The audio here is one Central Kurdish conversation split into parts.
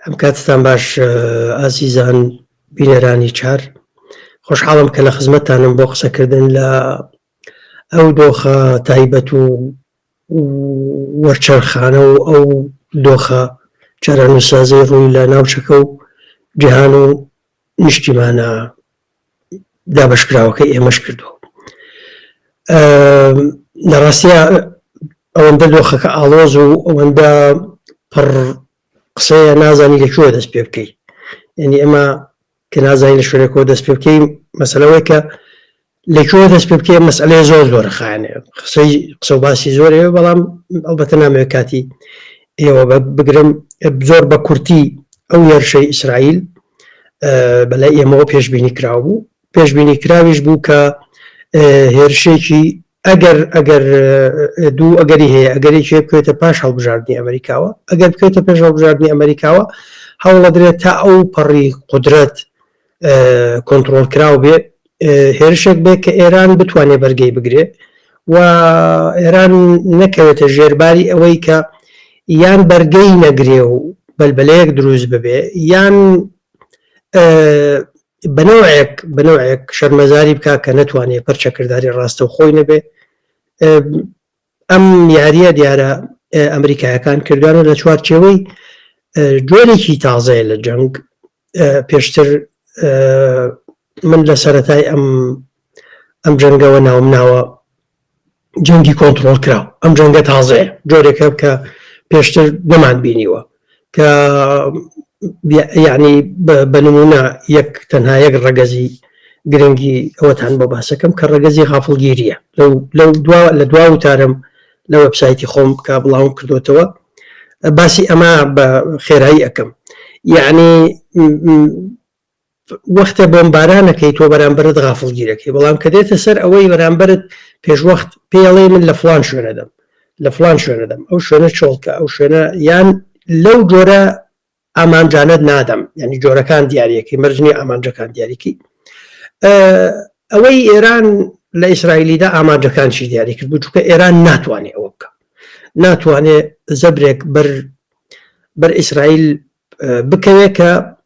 ئەم کاتتان باش ئازیزان بینەرانی چار خۆشحاڵم کە لە خزمەتانم بۆ قسەکردن لە ئەو دۆخە تایبەت و وەرچەرخانە و ئەو دۆخە چارەنووسازی ڕووی لە ناوچەکە و جیهان و نیشتیمانە دابەشکراوەکەی ئێمەش کردووە لە ڕاستە ئەوەندە دۆخەکە ئاڵۆز و ئەوەندە پڕ قسەیە نازانی لە کوێ دەست پێ بکەیت یعنی ئەمە کە نازانی لە شوێنەکەەوە دەست پێ بکەین مەسلەوەی کە لەکوێوە دەست پێ بکەیە مەسئلەیە زۆر زۆر خانێ قسەی قسە و باسی زۆرەیە بەڵام ئەڵبەتە نامەوێت کاتی ئێوە بگرم زۆر بە کورتی ئەو هێرشەی ئیسرائیل بەلای ئێمەوە پێشببینی کراو بوو پێشببینی کراویش بوو کە هێرشێکی ئەگەر ئەگەر دوو ئەگەری هەیە ئەگەرێکی بکوێتە پاش هەڵبژاردننی ئەمریکاوە ئەگەر بکوێتە پێش هەڵبژاردننی ئەمریکاوە هەوڵەدرێت تا ئەو پەڕی قدرەت کۆنتترۆل کراو بێ هێرشێک بێ کە ئێران بتوانێت بەرگەی بگرێ و ئێران نەکەوێتە ژێرباری ئەوەی کە یان بەرگەی نەگرێ و بەلبلەیەک دروست ببێ یان بنەوەیەک بنەوەیەک شەرمەزاری بک کە نتوانێت پرچەکردداری ڕاستە و خۆی نەبێ ئەم یاریە دیارە ئەمریکایەکان کردوانە لە چوارچێوەی جۆرێکی تازەیە لە جەنگ پێشتر من لە سەتای ئەم ئەم جەنگەوە ناوم ناوە جەنگی کۆنتترۆل کراو ئەم جەنگە تازەیە جۆرێکە کە پێشتر نەمان بینیوە کە یعنی بە نمونە یەک تەنها یەک ڕەگەزی گرنگی ئەوەتان بۆ باسەکەم کە ڕەگەزی غافڵگیریە لەو دوا لە دوا وتارم لە وەبسایتی خۆم کە بڵاوم کردوتەوە باسی ئەمە بە خێرایی ئەەکەم یعنی وەختە بۆمبارانەکەی تۆ بەرامبەرت غافڵگیرەکەی بەڵام کە دێتە سەر ئەوەی بەرامبەرت پێشوەخت پێڵێ من لە فلان شوێنەدەم لە فلان شوێنەدەم ئەو شوێنە چۆڵکە ئەو شوێنە یان لەو جۆرە ئامانجانت نادەم ینی جۆرەکان دیارەکەی مەرجنی ئامانجەکان دیاریکی ئەوەی ئێران لە ئیسرائیلیدا ئامانجەکانشی دیاری کرد بچووکە ئێران ناتوانێت ئەوە بکە ناتوانێت زەبرێک بەر بەر ئیسرائیل بکەوێت کە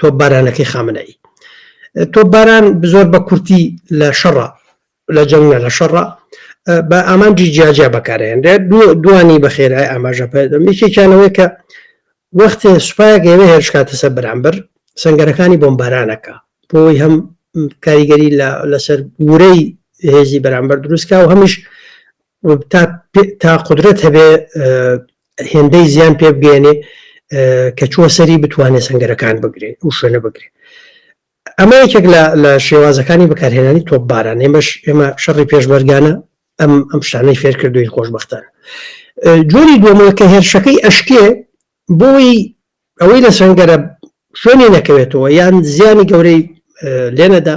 تۆپبارانەکەی خامنەئی تۆپباران زۆر بە کورتی لە شەڕە لە جەنگە لە شەڕە بە ئامانجی جیاجیا بەکارێنرێ دوانی بەخێرای ئاماژە پێدەم یەکێکیانەوەی کە وەختێ سوپایەک ئێوێ هێرشکاتە سەر بەرامبەر سنگەرەکانی بۆمبارانەکە بۆی هەم کاریگەری لەسەر گورەی هێزی بەرامبەر دروستکە و هەمیش و تا تا قودرەت هەبێ هێندەی زیان پێ بگەێنێ کە چووە سەری بتوانێت سنگەرەکان بگرێت و شوێنە بگرێت ئەمە یەکێک لە شێوازەکانی بەکارهێنانی تۆپ باران ئێمەش ئێمە شەڕی پێشمەرگانە ئەم ئەم شتانەی فێر کردوین خۆشببختان جۆری دووەمەوە کە هێرشەکەی ئەشکێ بۆی ئەوەی لە سنگەرە شوێنی نەکەوێتەوە یان زیانی گەورەی لێنەدا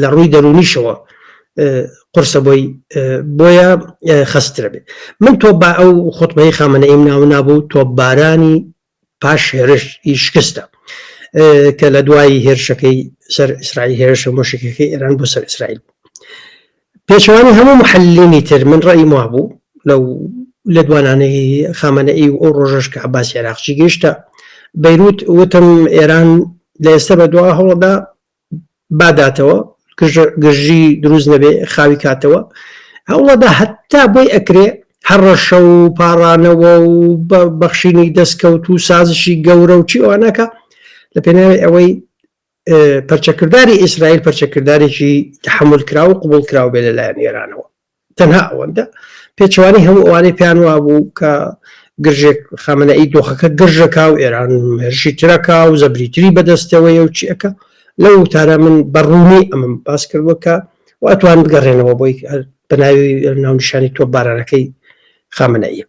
لە ڕووی دەرونیشەوە قرسە بۆی بۆیە خسترە بێت من تۆ با ئەو خۆتمەی خامەە ئیم ناو نابوو تۆ بارانی پاش هێرش ئی شکستە کە لە دوایی هێرشەکەی سەر ئیسرائیل هێرشە مۆشکەکەی ئێران بۆ سەر ئیسرائیل پێچوانی هەموو محلینی تر من ڕێی ما بوو لەو لە دوانانەی خامەە ئی و ئەو ڕۆژەش کە عباس عێراقچی گەشتە بەیروت وتم ئێران لە ئێستا بە دوا هەوڵدا باداتەوە گرژی دروست نەبێ خاوی کاتەوە هەوڵەدا هەتا بۆی ئەکرێ هەڕەشە و پاڕانەوە و بەخشینی دەستکەوت و سازشی گەورە و چی ئەوانەکە لە پێناوی ئەوەی پەرچەکردداری ئیسرائیل پەرچەکرددارێکی تحمل کرا و قوبول کراو بێ لەلایەن ئێرانەوە تەنها ئەوەندە پێچوانی هەموو ئەوانەی پێیان وابوو کە گرژێک خامەنەئی دۆخەکە گرژەکە و ئێران هێرشی ترەکە و زەبریتری بەدەستەوەی و چیەکە لەو وتارە من بەڕوونی ئەمەم باس کردوەکە و ئەتوان بگەڕێنەوە بۆی بەناوی ناونیشانی تۆ بارانەکەی خامەنەئی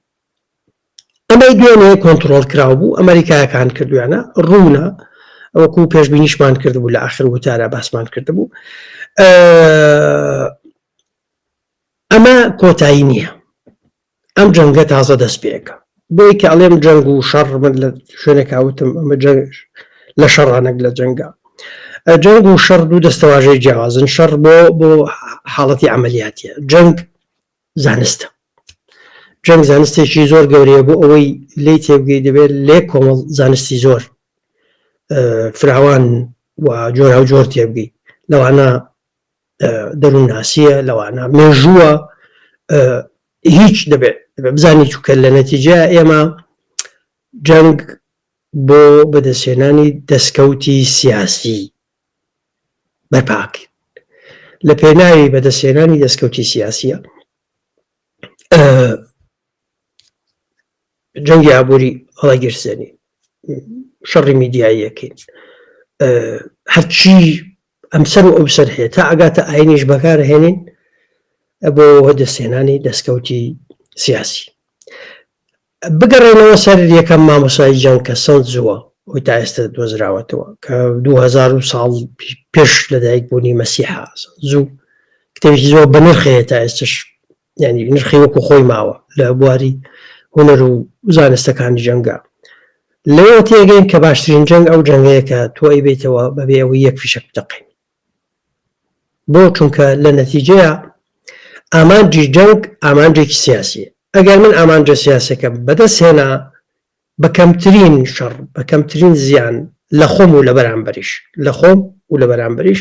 ئەمەی دوێنێ کۆنتترۆل کراو بوو ئەمریکایەکان کردویانە ڕوونە وەکو پێشببینیشمان کردبوو لە آخر وتارە باسمان کردبوو ئەمە کۆتایی نیە ئەم جەنگە تازە دەست پێکە بۆی کە ئەڵێم جەنگ و شەڕ من لە شوێنێکاوتم ئەمە جەنگش لە شەڕانەک لە جەنگە جەنگ و شەڕ دوو دەستەواژەی جیاوازن شەڕ بۆ بۆ حاڵەتی ئەعملیاتە جەنگ زانستە جەنگ زانستێکی زۆر گەورەیە بۆ ئەوەی لی تێبگەی دەبێت لێ کۆمەڵ زانستی زۆر فراوان و جۆرا و جۆر تێبگەی لەوانە دەروونناسیە لەوانە مێژووە هیچ دەبێت بزانانی چووکە لە نەتیجە ئێمە جەنگ بۆ بەدەستێنانی دەستکەوتی سیاسی بەرپاکرد لە پێناوی بەدەستێنانی دەستکەوتی سیاسیە جەنگی ئابووری هەڵەگیرسێنی شەڕی میدیاییەکەین هەرچی ئەمسەر و ئەوسەر هەیە تا ئەگاتە ئاینیش بەکار هێنین بۆ دەستێنانی دەستکەوتی سیاسی بگەڕێنەوە سەر یەکەم مامۆسای جەنگ کە سەوت زووە ئەوی تا ئێستا دۆزراوەتەوە کە 2000 ساڵ پێش لەدایک بوونی مەسیحا زوو کتێبی زۆر بەنرخەیە تا ئێستش یعنی نرخی وەکو خۆی ماوە لە بواری هوەر و زانستەکانی جەنگە لەوە تێگەین کە باشترین جەنگ ئەو جەنگەیە کە تۆی بیتەوە بەبێ ئەوەی یەک فیشک بدەقین بۆ چونکە لە نەتیجەیە ئامانجی جەنگ ئامانجێکی سیاسی ئەگەر من ئامانجە سیاسەکەم بەدەست هێنا بە کەمترین شەڕ بە کەمترین زیان لە خۆم و لە بەرامبەریش لە خۆم و لە بەرامبەریش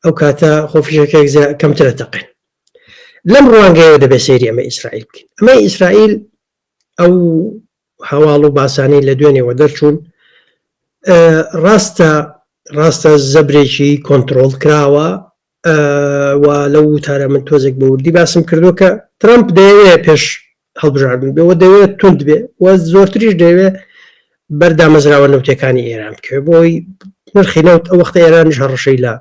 ئەو کاتە خۆفیشەکەێک کەمترە تەقێن لەم ڕوانگەیەوە دەبێت سەیری ئەمە ئیسرائیل بکەین ئەمە ئیسرائیل ئەو هەواڵ و باسانەی لە دوێنێەوە دەرچوون ڕاستە ڕاستە زەبرێکی کۆنتترۆل کراوە و لەو وتارە من تۆزێک بە وردی باسم کردو کە ترامپ دەیەوێ پێش هەڵبژاردن بێ و دەوێت توند بێ و زۆرتریش دەوێت بەر دامەزراوە نەوتەکانی ئێران بکەێت بۆی نرخی نەوت ئەو وەختە ئێرانش هەڕەشەی لە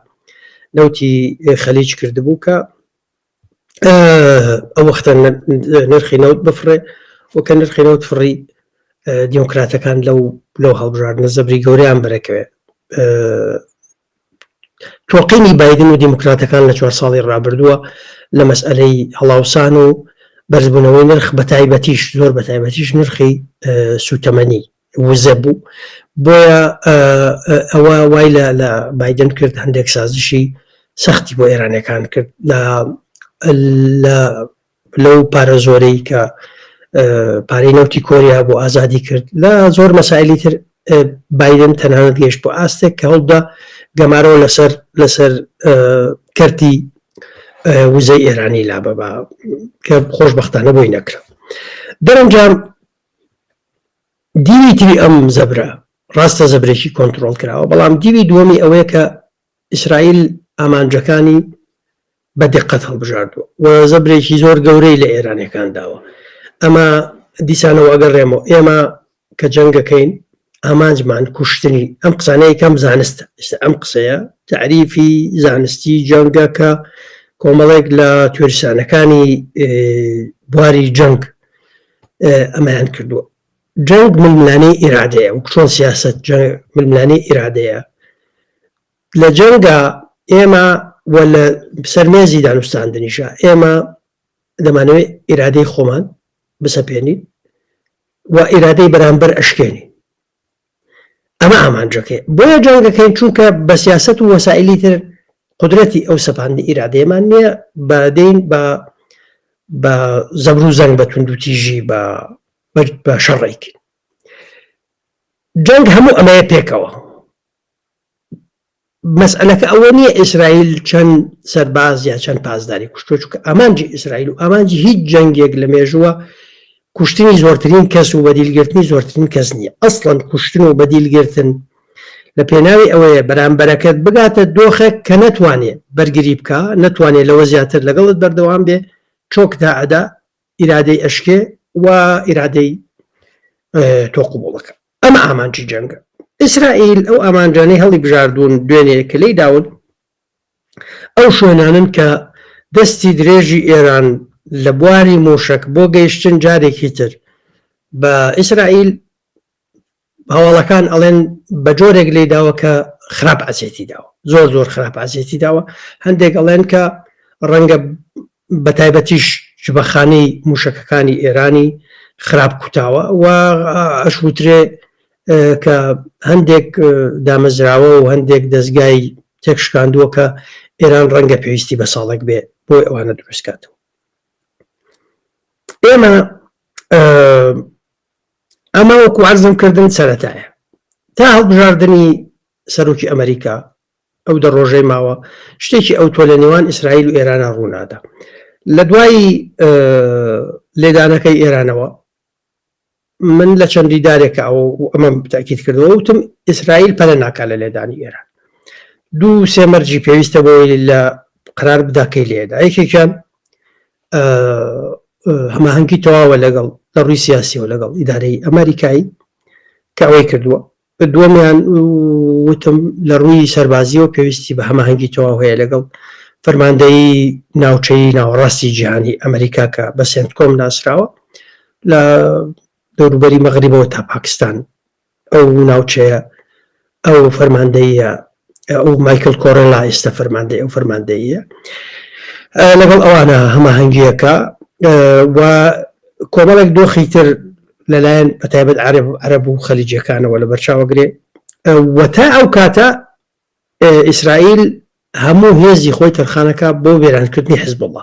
نەوتی خەلیج کردبوو کە ئەو وەختە نرخی نەوت بفڕێ و کە نرخی نەوت فڕی دیموکراتەکان لەو لەو هەڵبژاردنە زەبری گەوریان بەرەکەوێت تۆقینی بایدن و دیموکراتەکان لە چوار ساڵی ڕابردووە لە مەسئەلەی هەڵاوسان و بەرزبوونەوەی نرخ بەتایبەتیش زۆر بەتایبەتیش نرخی سوتەمەنی وزە بوو بۆیە ئەوە وای لە بادن کرد هەندێک سازشی سەختی بۆ ئێرانەکان کرد لە لەو پارە زۆرەی کە پارەی نەوتی کۆریا بۆ ئازادی کرد لە زۆر مەسایلی تر بادن تەنانەت گەشت بۆ ئاستێک کە هەڵدا گەمارەوە لەسەر لەسەر کەرتی وزەی ئێرانی لا بەبا کە خۆشببختانە بۆی نەکرا دەرەنجام دیوی تری ئەم زەبرە ڕاستە زەبرێکی کۆنتترۆل کراوە بەڵام دیوی دووەمی ئەوەیە کە ئیسرائیل ئامانجەکانی بە دیقەت هەڵبژاردووە و زەبرێکی زۆر گەورەی لە ئێرانیەکان داوە. ئەمە دیسانەوە ئەگەڕێمەوە، ئێمە کە جەنگەکەین ئامانجمان کوشتنی، ئەم قسانە یەکەم زانستە، ئێستا ئەم قسەیە تەعریفی زانستی جەنگە کە کۆمەڵێک لە تیۆریسانەکانی بواری جەنگ ئەمەیان کردووە. جەنگ ململانێی ئیرادەیە وەکو چۆن سیاسەت جەنگ ململانێی ئیرادەیە لە جەنگا ئێمە و لە سەرمێزی دانوستاندنیشە ئێمە دەمانەوێت ئیرادەی خۆمان بسەپێنین و ئیرادەی بەرامبەر ئەشکێنی ئەمە ئامانجەکەی بۆیە جەنگەکەین چونکە بە سیاست و وەسائلی تر قدرەتی ئەو سەپاندی ئیرادەیەمان نییە بەدەین بە بە زەبر و زەنگ بە توندوتیژی بە برد بە شەڕێکی جەنگ هەموو ئەمەیە پێکەوە مەسئلەکە ئەوە نییە ئیسرائیل چەند سەرباز یا چەند پاسداری کوشتۆ چکە ئامانجی ئیسرائیل و ئامانجی هیچ جەنگێک لە مێژووە کوشتنی زۆرترین کەس و بەدیلگرتنی زۆرترین کەس نییە ئەسڵەن کوشتن و بەدیلگرتن لە پێناوی ئەوەیە بەرامبەرەکەت بگاتە دۆخێک کە نەتوانێت بەرگری بکە نەتوانێت لەوە زیاتر لەگەڵت بەردەوام بێ چۆکدا ئەدا ئیرادەی ئەشکێ و ئیرادەی تۆ قوبوڵەکە ئەمە ئامانجی جەنگە ئیسرائیل ئەو ئامانجانەی هەڵی بژاردون دوێنێ کە لی داون ئەو شوێنانن کە دەستی درێژی ئێران لە بواری موشک بۆ گەیشتن جارێکی تر بە ئیسرائیل هەواڵەکان ئەڵێن بە جۆرێک لی داوە کە خراپ ئەزیێتی داوە زۆر زۆر خراپ ئازیێتی داوە هەندێک ئەڵێن کە ڕەنگە بە تایبەتیش جبەخانی موشەکەکانی ئێرانی خراپ کوتاوە و ئەشوترێ کە هەندێک دامەزراوە و هەندێک دەستگای تێکشکاندووە کە ئێران ڕەنگە پێویستی بە ساڵک بێ بۆی ئەوانە دروستکاتەوە ئێمە ئەمە وەکو عەرزم کردن سەرەتایە تا هەڵبژاردنی سەرۆکی ئەمریکا ئەو دە ڕۆژەی ماوە شتێکی ئەو تۆ لە نێوان ئیسرائیل و ئێرانە ڕوونادا لە دوایی لێدانەکەی ئێرانەوە من لە چەندی دارێکە ئەو ئەمە تاکیت کردەوە وتم ئیسرائیل پەلە ناکە لە لێدانی ئێران دوو سێمەرجی پێویستە بۆی لە قرار بداکەی لێدا یەکێکیان هەماهنگی تەواوە لەگەڵ لە ڕووی سیاسیەوە لەگەڵ ئیدارەی ئەمریکایی کە ئەوەی کردووە دووەمیان وتم لە ڕووی سەربازیەوە پێویستی بە هەماهنگی تەواو هەیە لەگەڵ فەرماندەی ناوچەی ناوەڕاستی جیهانی ئەمریکا کە بە سنتکۆم ناسراوە لە دەوروبەری مەغریبەوە تا پاکستان ئەو ناوچەیە ئەو فەرماندەییە ئەو مایکل کۆرەلا ئێستا فەرماندەی ئەو فەرماندەییە لەگەڵ ئەوانە هەماهەنگیەکە و کۆمەڵێک دۆخی تر لەلایەن بەتایبەت عرب عرب و خەلیجەکانەوە لە بەرچاوەگرێ وەتا ئەو کاتە ئیسرائیل هەموو هێزی خۆی تەرخانەکە بۆ وێرانکردنی حزبڵە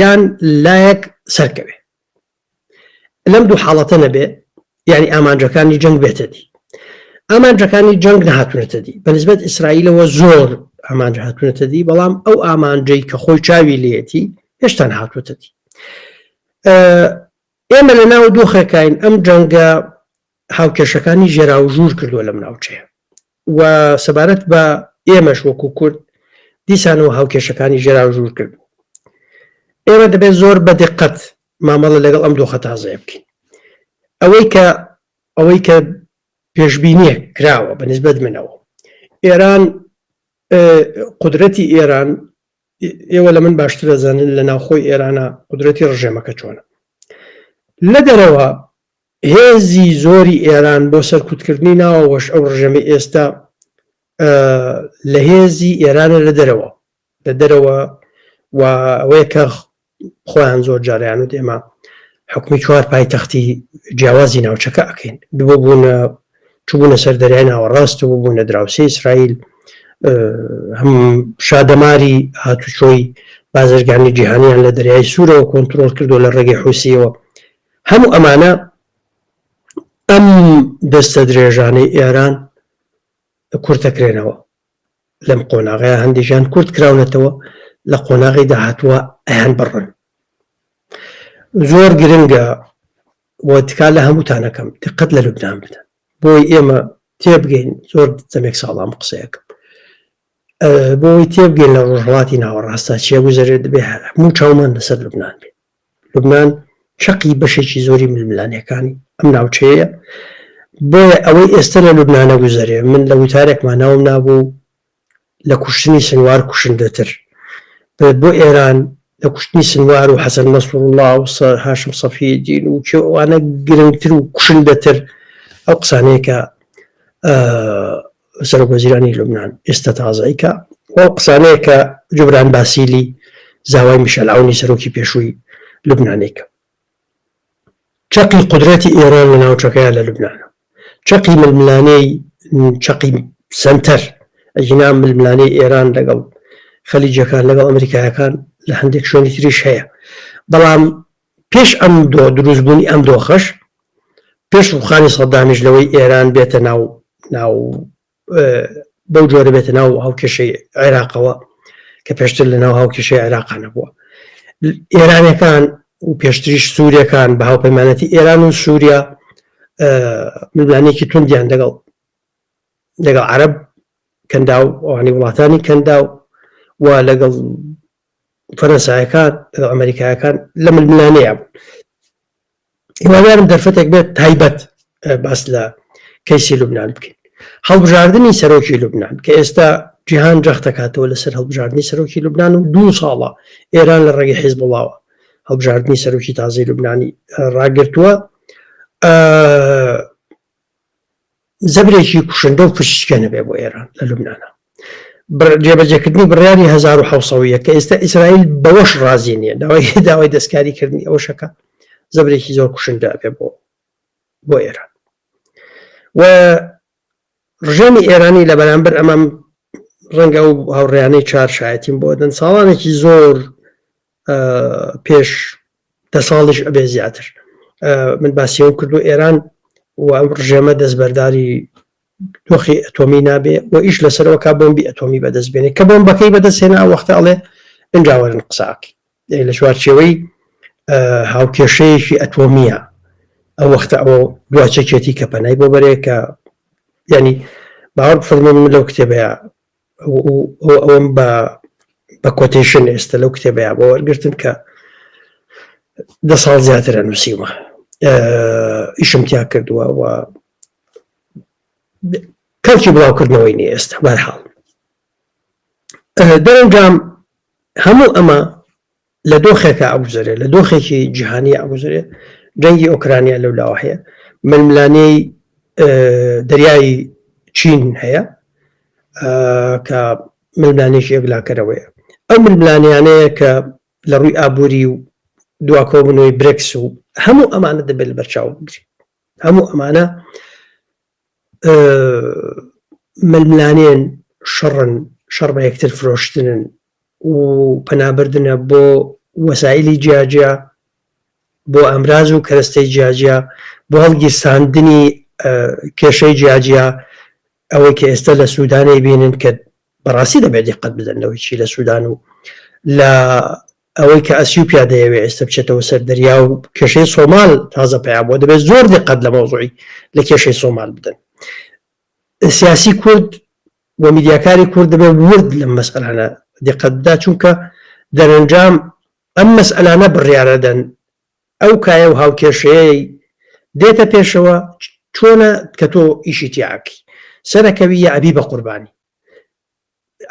یان لایەک سەرکەوێ لەم دوو حاڵەتە نەبێ یعنی ئامانجەکانی جەنگ بێتە دی ئامانجەکانی جەنگ نەهاتونەتە دی بەنسبەت ئیسرائیلەوە زۆر ئامانج هاتونەتە دی بەڵام ئەو ئامانجەی کە خۆی چاوی لەتی هێشتان هاتوتە دی ئێمە لە ناو دۆخێکین ئەم جەنگە هاوکێشەکانی ژێرا و ژوور کردووە لەم ناوچەیە و سەبارەت بە ئێمەش وەکو کورد دیسانەوە هاوکێشەکانی ژێراو ژوور کرد. ئێمە دەبێت زۆر بە دقەت مامەڵە لەگەڵ ئەم دۆخە تازەیە بکەین. ئەوەی کە ئەوەی کە پێشبینیە کراوە بە نسبەت منەوە ئێران قدرەتی ئێران ئێوە لە من باشتر دەزانن لە ناوخۆی ئێرانە قدرەتی ڕژێمەکە چۆنە لە دەرەوە هێزی زۆری ئێران بۆ سەرکوتکردنی ناوەوەش ئەو ڕژێمەی ئێستا لە هێزی ئێرانە لە دەرەوە لە دەرەوە و ئەوەیە کە خۆیان زۆر جاریان و دێما حکومی چوار پایتەختی جیاوازی ناوچەکە ئەکەین دووە بوونە چبوونە سەر دەریای ناوەڕاست و بوونە دراوسی ئیسرائیل هەم شادەماری هاتوچۆی بازرگانی جیهانیان لە دەریای سوورەوە کۆنتترۆل کردو لە ڕێگەی حوسیەوە هەموو ئەمانە ئەم دەستە درێژانەی ئێران کورتەکرێنەوە لەم قۆناغەیە هەندێکیان کورت کراونەتەوە لە قۆناغی داهاتوە ئەیان بڕن زۆر گرنگە بۆ تکا لە هەمووتانەکەم دقت لە لوبناان بدە بۆی ئێمە تێبگەین زۆر دەمێک ساڵام قسەیەکەم بۆی تێبگەین لە ڕۆژهڵاتی ناوەڕاستە چێ گوزارێت دەبێ هەموو چاومان لەسەر لوبناان بێ لوبنان چەقی بەشێکی زۆری ململانێکانی ئەم ناوچەیە، بۆیە ئەوەی ئێستە لە لوبنان ئەگوزەرێ، من لە وتارێکما ناوم نابوو لە کوشتنی سنوار کوشندەتر بێت بۆ ئێران، لە کوشتنی سنوار و حەسەن نەسروڵڵا و هاشم سەفیەدین و کێ ئەوانە گرنگتر و کوشندەتر ئەو قسانەیە کە سەرۆک وەزیرانی لوبنان ئێستا تازەی کە ئەو قسانەیە کە جوبران باسیلی زاوای میشەلعونی سەرۆکی پێشووی لوبنانێکە چەقی قدرەتی ئێران لە ناوچەکەیان لە لوبناە چەقی ململانەی چەقی سنتەر ئەجینا ململانەی ئێران لەگەڵ خەلیجەکان لەگەڵ ئەمریکایەکان لە هەندێک شوێنی تریش هەیە بەڵام پێش ئەم دۆ دروست بوونی ئەم دۆخەش پێش ڕوخانی سەدامیش لەوەی ئێران بێتە ناو ناو بەو جۆرە بێتە ناو هاوکێشەی عێراقەوە کە پێشتر لە ناو هاوکێشەی عێراقانە بووە ئێرانەکان و پێشتریش سوورەکان بە هاوپەیمانەتی ئێران و سووریا ملانێکی توندیان دەگەڵ لەگەڵ عرب کەندا و ئەوانی وڵاتانی کەندا و لەگەڵ فەرەنسایەکان ئەمریکایەکان لە ململانەیە بوون هیوادارم دەرفەتێک بێت تایبەت باس لە کەیسی لوبناان بکەین هەڵبژاردننی سەرۆکی لوبناان کە ئێستا جیهان جەختەکاتەوە لەسەر هەڵبژاردننی سەرۆکی لوبناان و دوو ساڵە ئێران لە ڕێگەی حیز بڵاوە هەڵبژاردننی سەرۆکی تازەی لوبنانی ڕاگرتووە زەبرێکی کوشندە و پشکێنە بێ بۆ ئێران لە لوبنانا جێبەجێکردنی بڕیاری 1970 کە ئێستا ئیسرائیل بەوەش ڕازی نییە داوای داوای دەستکاریکردنی ئەوشەکە زەبرێکی زۆر کوشندە بێ بۆ بۆ ئێران و ڕژێمی ئێرانی لە بەرامبەر ئەمەم ڕەنگە ئەو هاوڕیانەی چار شایەتیم بۆ دەن ساڵانێکی زۆر پێش دە ساڵیش ئەبێ زیاتر من باسیەوە کرد و ئێران و ئەم ڕژێمە دەستبەرداری تۆخی ئەتۆمی نابێ و ئیش لەسەرەوە کا بۆمبی ئەتۆمی بەدەست بێنێ کە بۆم بەکەی بەدەستێنە وەختە ئەڵێ ئەنجاوەرن قساکی لە چوارچێوەی هاوکێشەیەکی ئەتۆمیە ئەو وەختە ئەو دواچەکێتی کە پەنای بۆ بەرێ کە ینی باوەڕ فەرمێن لەو کتێبەیە ئەوەم بە بە کۆتیشن ئێستا لەو کتێبەیە بۆ وەرگتن کە دە ساڵ زیاترە نووسیوە ئیشم تیا کردووە و کەڵکی بڵاوکردنەوەی نیە ئێستا بەرحاڵ دەرەنجام هەموو ئەمە لە دۆخێکە ئەگوزەرێ لە دۆخێکی جیهانی ئەگوزرێ جەنگی ئۆکرانیا لەو لاوە هەیە ململانەی دەریایی چین هەیە کە ململانێکی یەکلاکەرەوەیە ئەو ململانیانەیە کە لە ڕووی ئابووری و دواکۆبنەوەی برکس و هەموو ئەمانە دەبێت بەرچاو بگری هەموو ئەمانە ململانێن، شەڕن، شەڕ بە یەکتر فرۆشتنن و پەنابردنە بۆ وەسائلی جیاجیا بۆ ئامراز و کەرەستەی جیاجیا بۆ هەڵگیرساندنی کێشەی جیاجیا ئەوەی کە ئێستا لە سوودانەی بینن کە بەڕاستی دەبێت دیقەت بدەنەوەی چی لە سوودان و لە ئەوەی کە ئەسیوپیا دەیەوێت ئێستا بچێتەوە سەر دەریا و کێشەی سۆمال تازە پیا بۆ دەبێت زۆر دقەت لە مەوزوعی لە کێشەی سۆمال بدەن سیاسی کورد و میدیاکاری کورد دەبێت ورد لەم مەسەلانە دقەتدا چونکە دەرەنجام ئەم مەسئلانە بڕیارەدەن ئەو کایە و هاوکێشەیەی دێتە پێشەوە چۆنە کە تۆ ئیشی تیاکی سەرەکەوی یا ئەبی بە قوربانی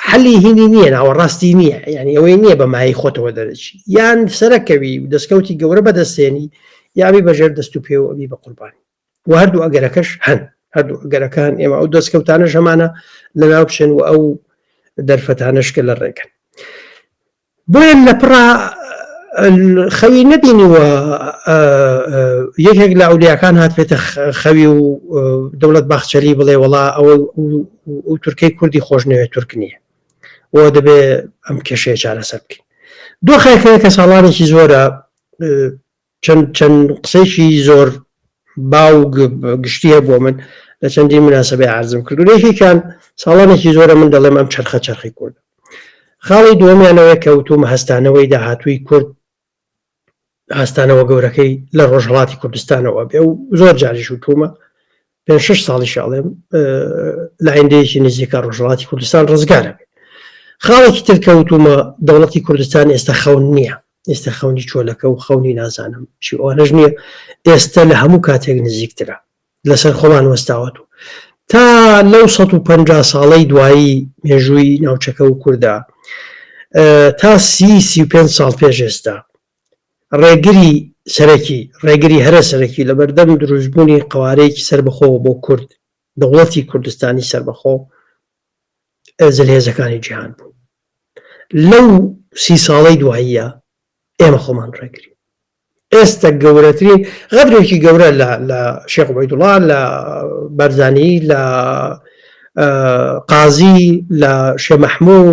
حەلی هینی نییە ناوەڕاستی نییە یعنی ئەوەی نییە بە مای خۆتەوە دەرەچی یان سەرەکەوی و دەستکەوتی گەورە بەدەستێنی یاوی بەژێر دەست و پێ و ئەوی بە قوربانی و هەردوو ئەگەرەکەش هەن هەردوو ئەگەرەکان ئێمە ئەو دەستکەوتانە ژەمانە لە ناو بچێن و ئەو دەرفەتانشکە لە ڕێگەن بۆیە لە پڕا خەوی نەبینیوە یەکێک لە ئەولیاکان هاتێتە خەوی و دەوڵەت باخچەلی بڵێ وڵا ئەوە تورکەی کوردی خۆش نوێ تورک نییە بۆ دەبێ ئەم کێشەیە چارەسەر بکەین دۆخێکەیە کە ساڵانێکی زۆرە چەند چەند قسەیەکی زۆر باو و گشتی هەیە بۆ من لە چەندین مناسبەی عرضم کرد و یەکێکیان ساڵانێکی زۆرە من دەڵێم ئەم چرخە چرخی کورد خاڵی دووەمیانەوەی کە وتوم هەستانەوەی داهاتووی کورد هەستانەوە گەورەکەی لە ڕۆژهەڵاتی کوردستانەوە بێ و زۆر جاریش وتومە پێنج شەش ساڵیش ئەڵێم لە ئایندەیەکی نزیکە ڕۆژهەڵاتی کوردستان ڕزگارە بێت خاڵێکی تر کەوتومە دەوڵەتی کوردستان ئێستا خەون نییە ئێستا خەونی چۆلەکە و خەونی نازانم چی ئەوانەش نییە ئێستا لە هەموو کاتێک نزیکترە لەسەر خۆمان وەستاوەت و تا لەو 150 ساڵەی دوایی مێژووی ناوچەکە و کووردا تا سی سی پێ ساڵ پێش ئێستا ڕێگری سەرەکی، ڕێگری هەرە سەرەکی لەبەردەم دروستبوونی قەوارەیەکی سەربەخۆوە بۆ کورد، دەوڵەتی کوردستانی سەربەخۆ زلهێزەکانی جیهان بوون. لەو سی ساڵەی دواییە ئێمە خۆمان ڕێگرین. ئێستا گەورەترین غەدرێکی گەورە لە شێخ عبیدوڵا لە بەرزانی لە قازی لە شێ مەحموو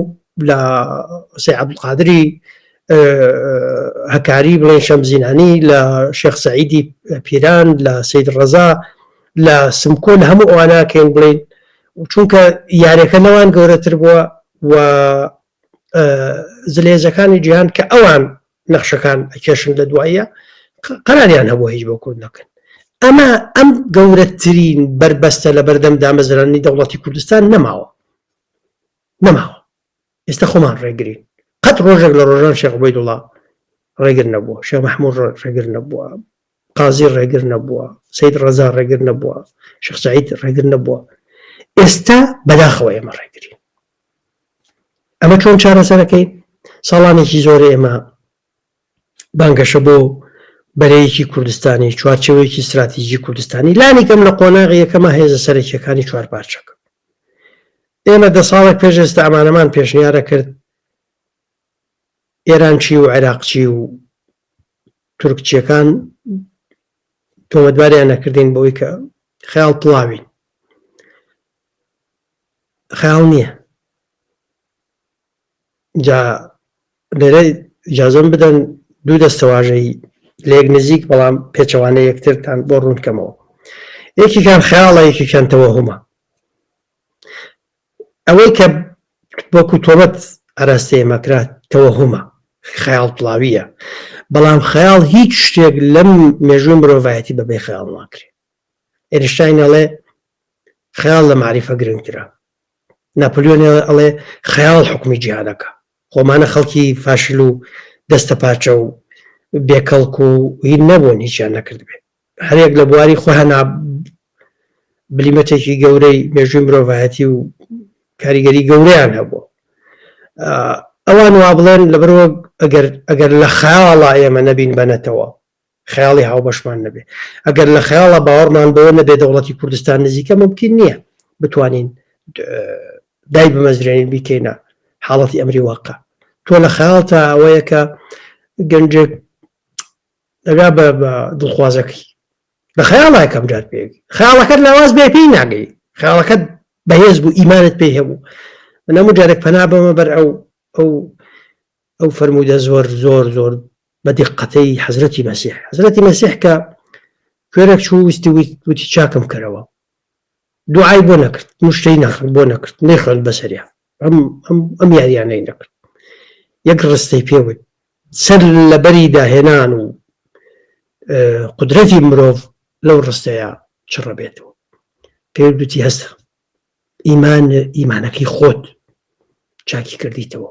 لە سێ عبدقادری هەکاری بڵێن شەمزینانی لە شێخ سعیدی پیران لە سید ڕەزا لە سمکۆ لە هەموو ئەواناکەین بڵین چونکە یارەکە لەوان گەورەتر بووە و زلێزەکانی جیهان کە ئەوان نەخشەکان ئەکێشن لە دواییە قەراریان هەبوو هیچ بۆ کورد نەکەن ئەمە ئەم گەورەترین بربەستە لە بەردەم دامەزرانی دەوڵەتی کوردستان نەماوە نەماوە ئێستا خۆمان ڕێگرین قەت ڕۆژێک لە ڕۆژان شێخ عوبەیدوڵا ڕێگر نەبووە شێخ محمود ڕێگر نەبووە قازی ڕێگر نەبووە سید ڕەزا ڕێگر نەبووە شێخ سعید ڕێگر نەبووە ئێستا بەداخەوە ئێمە ڕێگرین ئەمە چۆن چارەسەرەکەی ساڵانێکی زۆر ئێمە بانگەشە بۆ بەرەیەکی کوردستانی، چوارچێوەیەکی ستراتیجی کوردستانی، لانیکەم لە قۆناغی یەکەما هێزە سەرەکییەکانی چوارپارچەکە. ئێمە دە ساڵێک پێش ئێستا ئەمانەمان پێشنیارەکرد، ئێران چی و عێراق چی و تورک چیەکان تۆمەتباریان نەکردین بۆی کە خیاڵ پڵاوین خیاڵ نییە جا لێرە ئیجازەم بدەن دوو دەستەواژەی لێک نزیک بەڵام پێچەوانە یەکترتان بۆ ڕوونکەمەوە یەکیکان خیاڵە یەکیکان تەوەهمە ئەوەی کە وەکو تۆمەت ئاراستەیە مەکرات تەوەهمە خیاڵ پڵاویە بەڵام خیاڵ هیچ شتێک لەم مێژووی مرۆڤایەتی بەبێ خیاڵ ناکرێت ئێرشتاینەڵێ خیاڵ لە معریفە گرنگترە ناپلیۆن هێڵ ئەڵێ خەیاڵ حوکمی جیهانەکا، خۆمانە خەڵکی فاشل و دەستە پاچە و بێ کەڵک و هین نەبوون هیچیان نەکردبێ. هەریەک لە بواری خۆیانا بلیمەتێکی گەورەی مێژووی مرۆڤایەتی و کاریگەری گەورەیان هەبوو. ئەوان وا بڵێن لەبەرەوە ئەگەر لە خەیاڵا ئێمە نەبین بەنەتەوە خەیاڵی هاوبەشمان نەبێ ئەگەر لە خەیاڵە باوەڕمان بەوە نەبێ دەوڵەتی کوردستان نزیکە ممکن نییە بتوانین دای بمەزرێنین بیکەینە حاڵەتی ئەمری واقع تۆ لە خەیاڵ تا ئەوەیە کە گەنجێک دەگا بە دڵخوازەکەی لە خەیاڵای کەم جار پێ خەیاڵەکەت لاواز بێ پێی ناگەی خەیاڵەکەت بەهێز بوو ئیمانت پێی هەبوو منەمو جارێک پەنا بەمە بەر ئەو ئەو ئەو فەرموودە زۆر زۆر زۆر بە دیقەتەی حەزرەتی مەسیح حەزرەتی مەسیح کە کوێرەک چوو ویستی وتی چاکم کەرەوە دوعای بۆ نەکرد مشتەی نەخرد بۆ نەکرد نەیخند بەسەریا ئەم یاریانەی نەکرد یەک ڕستەی پێوت سەر لەبەری داهێنان و قدرەتی مرۆڤ لەو ڕستەیە چڕە بێتەوە پێ دوتی هەستە ئیمان ئیمانەکەی خۆت چاکی کردیتەوە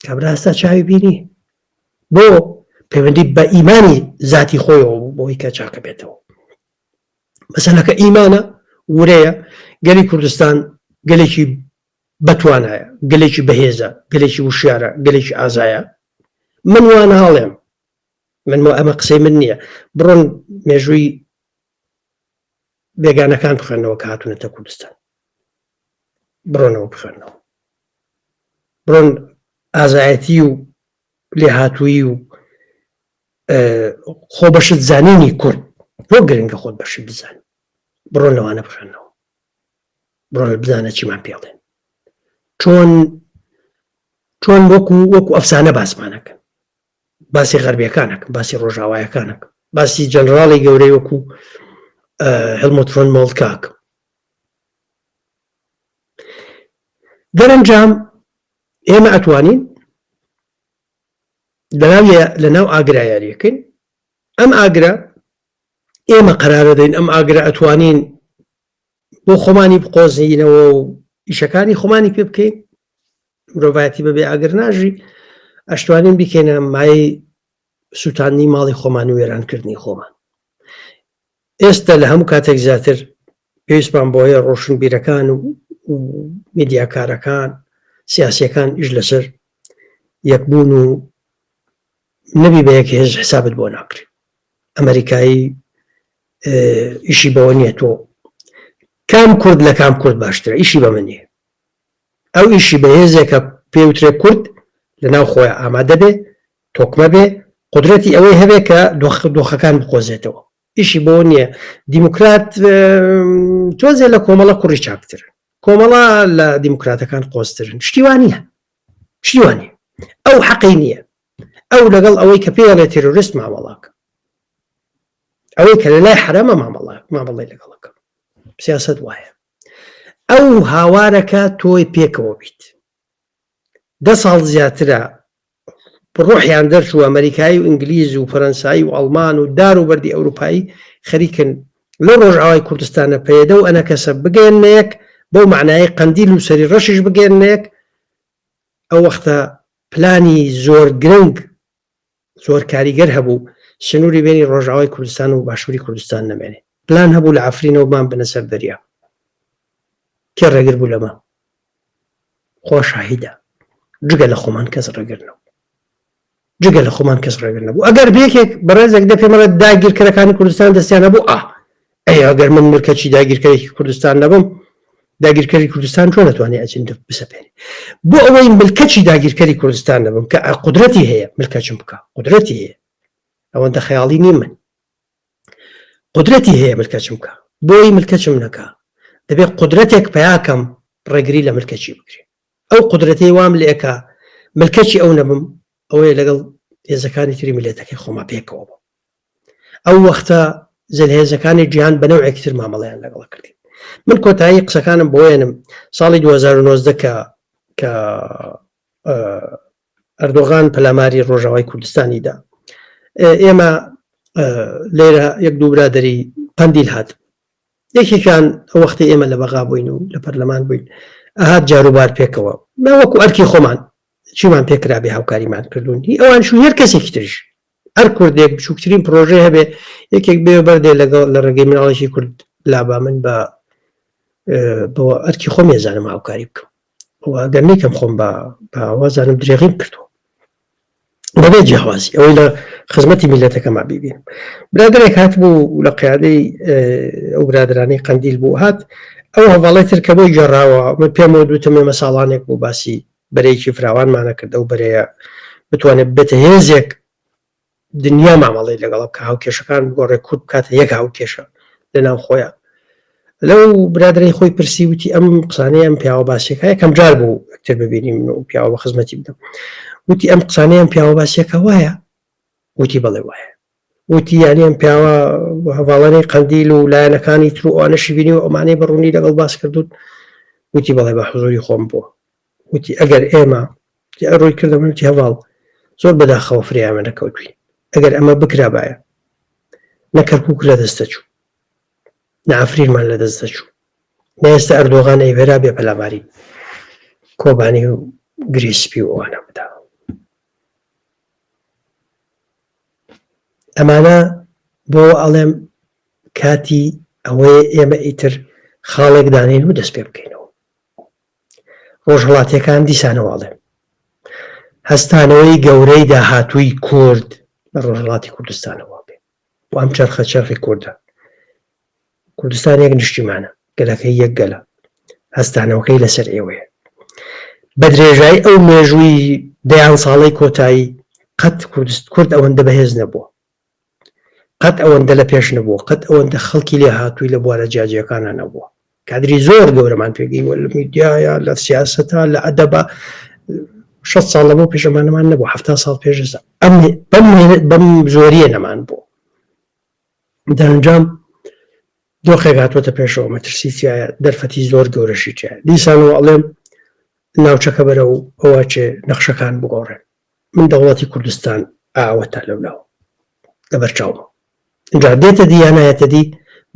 کابراستا چاوی بینی بۆ پەیوەندی بە ئیمانی ذاتی خۆیەوە بوو بۆی کە چاکە بێتەوە مەسەلەکە ئیمانە ورەیە گەلی کوردستان گەلێکی بەتوانایە گەلێکی بەهێزە گەلێکی وشارە گەلێکی ئازایە من وانە هاڵێم من بۆ ئەمە قسەی من نییە بڕۆن مێژووی بێگانەکان بخوێنەوە کە هاتوونەتە کوردستان بڕۆنەوە بخوێنەوە بڕۆن ئازایەتی و لێهاتووی و خۆ بەشت زانینی کورد بۆ گرنگە خۆت بەشی بزان بڕۆن لەوانە بخوێنەوە بڕۆن بزانە چیمان پێڵێن چۆن چۆن وەکو وەکو ئەفسانە باسمانەکەن باسی غەربیەکان نەکەم باسی ڕۆژاوایەکان نەکەم باسی جەنراڵی گەورەی وەکو هەلمۆتفۆن مۆڵکاک دەرەنجام ئێمە ئەتوانین لەناو لە ناو ئاگرا یاریەکەین ئەم ئاگرا ئێمە قرارە دەین ئەم ئاگرا ئەتوانین بۆ خۆمانی بقۆزینەوە و ئیشەکانی خۆمانی پێ بکەین مرۆڤایەتی بەبێ ئاگر ناژی ئەشتوانین بیکەینە مای سووتانی ماڵی خۆمان و وێرانکردنی خۆمان ئێستا لە هەموو کاتێک زیاتر پێویستمان بۆ هەیە ڕۆشن بیرەکان و میدیاکارەکان سیاسەکان ئیش لەسەر یەکبوون و نەبی بە یەک هێز حسابت بۆ ناکرێت ئەمریکایی ئیشی بەوە نییە تۆ کام کورد لە کام کورد باشترە ئیشی بە منی ئەو ئیشی بە هێزێکە پێوترێ کورد لە ناو خۆی ئامادە بێ تۆکمە بێ قدرەتی ئەوەی هەبێ کە دۆخ دۆخەکان بقۆزێتەوە ئیشی بۆ نییە دیموکرات تۆزێ لە کۆمەڵە کوڕی چاکتر کۆمەڵە لە دیموکراتەکان قۆسترن شتیوانە پشتیوانی ئەو حەقی نییە ئەو لەگەڵ ئەوەی کە پێی ئەڵێ تێرۆریست مامەڵە بکە ئەوەی کە لە لای حەرامە مامەڵە مامەڵی لەگەڵەکە سیاست وایە ئەو هاوارەکە تۆی پێکەوە بیت دە ساڵ زیاترە ڕۆحیان دەرچوو ئەمریکایی و ئینگلیز و فەرەنسایی و ئەڵمان و دار و بەری ئەوروپایی خەریکن لەو ڕۆژئاوای کوردستانە پەیەدە و ئەنەکەسە بگەیەننە یەک، بەو مەعنایەی قەندیل و سەری ڕەشیش بگەیەننە یەک، ئەو وەختە پلانی زۆر گرنگ، زۆر کاریگەر هەبوو، سنووری بینی ڕۆژئاوای کوردستان و باشووری کوردستان نەمێنێ. پلان هەبوو لە عەفرینەوە بمانبەنە سەر دەریا. کێ ڕێگر بوو لەمە؟ خوا شاهیدە جگە لە خۆمان کەس ڕێگر نەبوو جگە لە خۆمان کەس ڕێگر نەبوو ئەگەر بێکێک بەڕێزێک دە پێمەڵە داگیرکەرەکانی کوردستان دەستیانە بوو ئا ئەی ئەگەر من مرکەچی داگیرکەرێکی کوردستان نەبم داگیرکەری کوردستان چۆن نتوانانی ئەجین بسەپێنی بۆ ئەوەی ملکەچی داگیرکەری کوردستان نەبم کە قدرەتی هەیە ملکەچم بکە قدرەتی هەیە ئەوەندە خەیاڵی نی من قودرەتی هەیە ملکەچم بکا بۆی ملکەچم نەکا دەبێ قودرەتێک پەیا کەم ڕێگری لە ملکەچی بکرێ ئەو قودرەتەی وام لێ ئەکا ملکەچی ئەو نەبم ئەوەیە لەگەڵ هێزەکانی تری ملێتەکەی خۆما پێکەوە بوو ئەو وەختە زلهێزەکانی جیهان بە نەوەیەکی تر مامەڵیان لەگەڵ کردی من کۆتایی قسەکانم بۆێنم ساڵی 2009 کە کە ئەردۆغان پەلاماری ڕۆژاوای کوردستانی دا ئێمە لێرە یەک دوو برادری قندیل هات یەکێکیان ئەو وەختی ئێمە لە بەغا بووین و لە پەرلەمان بووین ئەهات جاروبار پێکەوە ناوەکو ئەرکی خۆمان چیمان پێکرا بێ هاوکاریمان کردوون هی ئەوان شو هەر کەسێکی ترش هەر کوردێک بچووکترین پرۆژێ هەبێ یەکێک بێ بەردێ لەگەڵ لە ڕێگەی مناڵێکی کورد لابا من بە بۆ ئەرکی خۆم ێزانم هاوکاری بکەم ئەگەر نیکەم خۆم بە باوازانم درێغیم کردووە بەبێ جیاوازی ئەوەی لە خزمەتی میلەتەکەما بیبین برادێک هات بوو لە قیادەی ئەو برادرانی قندیل بوو هات ئەو هەواڵی تر کە بۆی گەڕاوە من پێم و دوتم ئێمە ساڵانێک بۆ باسی بەرەیەکی فراوانمانە کردە و بەرەیە بتوانێت بێتە هێزێک دنیا مامەڵەی لەگەڵە بکا هاوکێشەکان بگۆڕێ کورد بکاتە یەک هاوکێشە لە ناو خۆیان لەو برادرەی خۆی پرسی وتی ئەم قسانەی ئەم پیاوە باسیەکە یەکەم جار بوو ئەکتر ببینیم من و پیاوە بە خزمەتی بدەم وتی ئەم قسانەی ئەم پیاوە باسیەکە وایە وتی بەڵێ وایە وتی یانی ئەم پیاوە هەواڵەی قندیل و لایەنەکانی تر ئەوانەشی بینی و ئەمانەی بەڕوونی لەگەڵ باس کردوون وتی بەڵێ بە حزوری خۆم بووە وتی ئەگەر ئێمە، جا ڕووی کردە من وتی هەڤاڵ زۆر بەداخەوە فرێی ئەمە نەکەوتووین، ئەگەر ئەمە بکرابایە نە کەرکووک لە دەست دەچوو، نە عەفرینمان لە دەست دەچوو، نە ئێستا ئەردۆغان ئەیڤێرا بێ پەلاماری کۆبانی و گرێی سپی و ئەوانە بدا. ئەمانە بۆ ئەڵێم کاتی ئەوەیە ئێمە ئیتر خاڵێک دانین و دەست پێ بکەینەوە ڕۆژهەڵاتیەکان دیسانەوە ئەڵێم هەستانەوەی گەورەی داهاتووی کورد لە ڕۆژهڵاتی کوردستانەوە بێ و ئەم چرخە چرخی کوردە کوردستانێک نیشتیمانە گەلەکەی یەک گەلە هەستانەوەکەی لەسەر ئێوەیە بە درێژای ئەو مێژووی دەیان ساڵی کۆتایی قەت کوردست کورد ئەوەندە بەهێز نەبووە قەت ئەوەندە لە پێش نەبووە قەت ئەوەندە خەڵکی لێ هاتووی لە بوارە جیاجیەکانە نەبووە کادری زۆر گەورەمان پێگەی وە لە میدیایە لە سیاستە لە ئەدەبە شە ساڵ لە بۆ پێشەمانەمان نەبوو هەفتا ساڵ پێشستا ئەم بەم زۆریە نەمان بوو دەنجام دۆخێک هاتوەتە پێشەوە مەترسیایە دەرفەتی زۆر گەورەشی تیا دیسانەوە ئەڵێم ناوچەکە بەرە و ئەوە چێ نەخشەکان بگۆڕێن من دەوڵەتی کوردستان ئاوە تا لەو لاوە لەبەر چاومە جا دێتە دی یانایەتە دی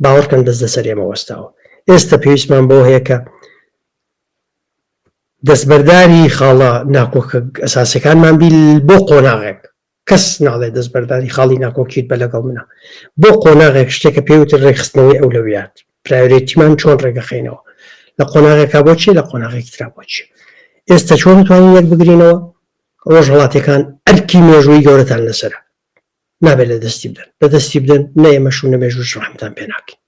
باوەڕکەن دەست لەسەر ئێمە وەستاوە ئێستا پێویستمان بۆ هەیە کە دەستبەرداری خاڵە ناکۆکە ئەساسەکانمان بی بۆ قۆناغێک کەس ناڵێ دەستبەرداری خاڵی ناکۆکیت بە لەگەڵ منە بۆ قۆناغێک شتێکە پێوتر ڕێکخستنەوەی ئەولەویات پرایۆرێتیمان چۆن ڕێگەخینەوە لە قۆناغێکا بۆچی لە قۆناغێکی ترا بۆچی ئێستا چۆن توانین یەک بگرینەوە ڕۆژ هەڵاتەکان ئەرکی مێژووی گەورەتان لەسرە نابێت لە دەستی بدەن لە دەستی بدەن نە ئێمەش و نەمێژوش ڕحمتان پێ ناکەین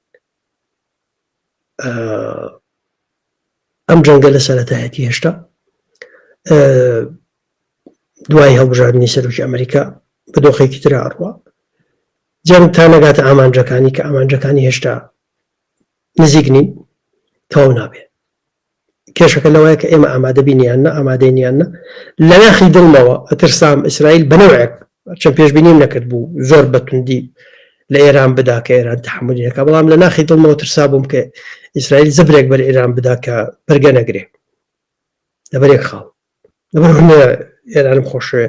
ئەم جەنگە لە سەرەتایەتی هێشتا دوای هەڵبژاردننی سەرۆکی ئەمریکا بە دۆخێکی تر ئاڕوە جەنگ تا نەگاتە ئامانجەکانی کە ئامانجەکانی هێشتا نزیک نین تەواو نابێ کێشەکە لەوەیە کە ئێمە ئامادەبی نیان نە ئامادەی نیان نە لە ناخی دڵمەوە ئەترسام ئیسرائیل بەنەوەک چەند پێشببینیم نەکرد بوو زۆر بەتوندی لە ئێران بدا کە ئێران تحملەکە بەڵام لە ناخی دڵمەوە ترسا بووم کە ئیسرائیل زبرێک بەر ئێران بدا کە بەرگە نەگرێ لەبەر یەک خاڵ لەبەر هونەرە ئێرانم خۆشوێ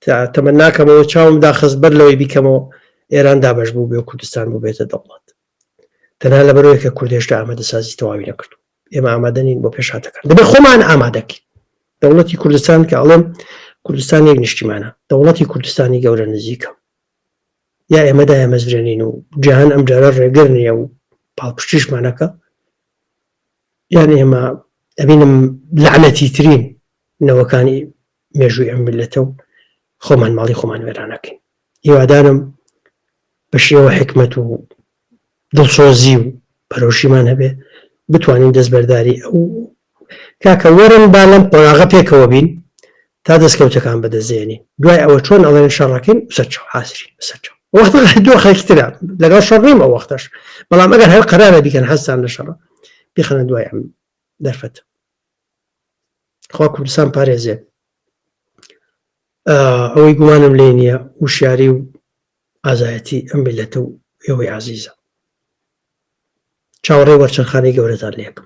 تا تەمە ناکەمەوە چاوم داخست بەر لەوەی بیکەمەوە ئێران دابش بوو بێ کوردستان بوو بێتە دەوڵات تەنها لەبەرەوەی کە کوردێشتا ئامادە سازی تەواوی نەکردو ئێمە ئامادەنین بۆ پێشاتەکان دەبێت خۆمان ئامادەکەین دەوڵەتی کوردستان کە ئەڵێم کوردستان یەک نیشتیمانە دەوڵەتی کوردستانی گەورە نزیکە یا ئێمەدا ئەمەزرێنین و جیهان ئەم جارە ڕێگر نییە و پاڵپشتیشمانەکە یان ئێمە ئەبینم لەعنەتی ترین نەوەکانی مێژووی ئەم میلەتە و خۆمان ماڵی خۆمان وێرانەکەین هیوادارم بە شێوە حکمت و دڵسۆزی و پەرۆشیمان هەبێ بتوانین دەستبەرداری ئەو کاکە وەرن با لەم قۆناغە پێکەوە بین تا دەستکەوتەکان بەدەستێنین دوای ئەوە چۆن ئەڵێن شەڕەکەین سەرچەوە حاسری سەرچەوە وەختە دۆ خەکترە لەگەڵ شەڕ نیم ئەو وەختەش بەڵام ئەگەر هەر قەرارە بیکەن هەستان لە شەڕە بخەنە دوای ئەم دەرفەت خوا کوردستان پارێزێ ئەوەی گومانم لێ نییە وشیاری و ئازایەتی ئەم بلەتە و ئێوەی عزیزە چاوەڕێ وەرچەرخانی گەورەتان لێکم